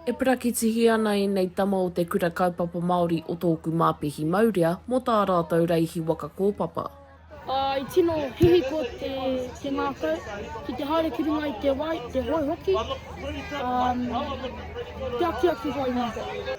E perakitihi ana ēnei tama o te Kura Kaupapa Māori o Tōku Māpihi Maurea mō tā rātou reihi waka kōpapa. I tino hihiko te ngākau ki te haere ki runga i te wai, te hoe hoki.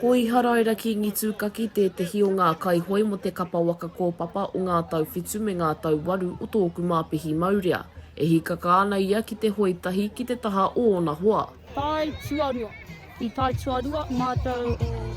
Koiharaira Kingi Tūkaki tētehi o ngā kaihoi mō te kapa waka kōpapa o ngā tau whitu me ngā tau waru o tōku māpihi maurea. E hīkaka ana ia ki te hoe tahi ki te taha o ōna hoa. Tae Tuarua. I Tae Tuarua mātou o.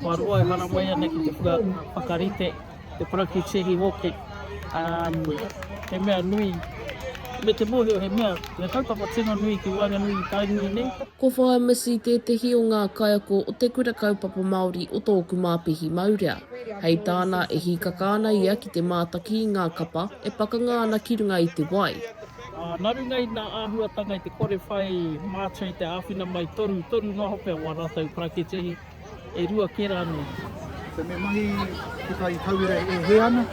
Kua roa e haramai ana ki te kua whakarite te parakiuti hī hoki, he mea nui, me te mōhio he mea, he kaupapa tino nui ki waenganui i Tainui nei. Ko Whaea Missy tētehi o ngā kaiako o Te Kura Kaupapa Māori o Tōku Māpihi Maurea. Hei tāna, e hīkaka ana ia ki te mātaki i ngā kapa e pakanga ana ki runga i te wai. Nā runga i ngā āhuatanga i te kore whai mātua i te āwhina mai torutoru noa hoki o ā rātou parakiuti hī, E rua ke ra noa. Ko me mahi ki tai tauira e he ana.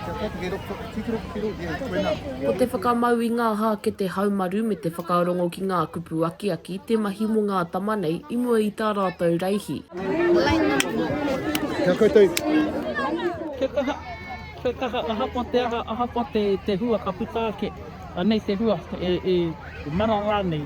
Kia kati he roko, titiro ki te rohe, koe na. Ko te whakamau i nga hakete haumaru me te whakarongo ki nga kupu akiaki te mahi mo nga tama nei i mua i ta ratou raihi. Kia koutou. Kia kaha, kia kaha, ahakoa te aha, ahakoa te hua ka puta ake, anei te hua, e mara ranei.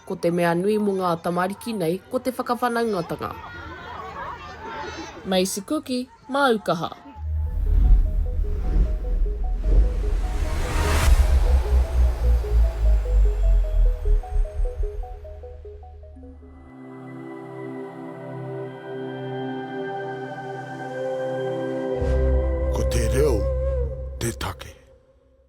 Ko te mea nui mo nga tamariki nei ko te whakawhanaungatanga. Macy Kuki, Māu kaha. Ko te reo te take.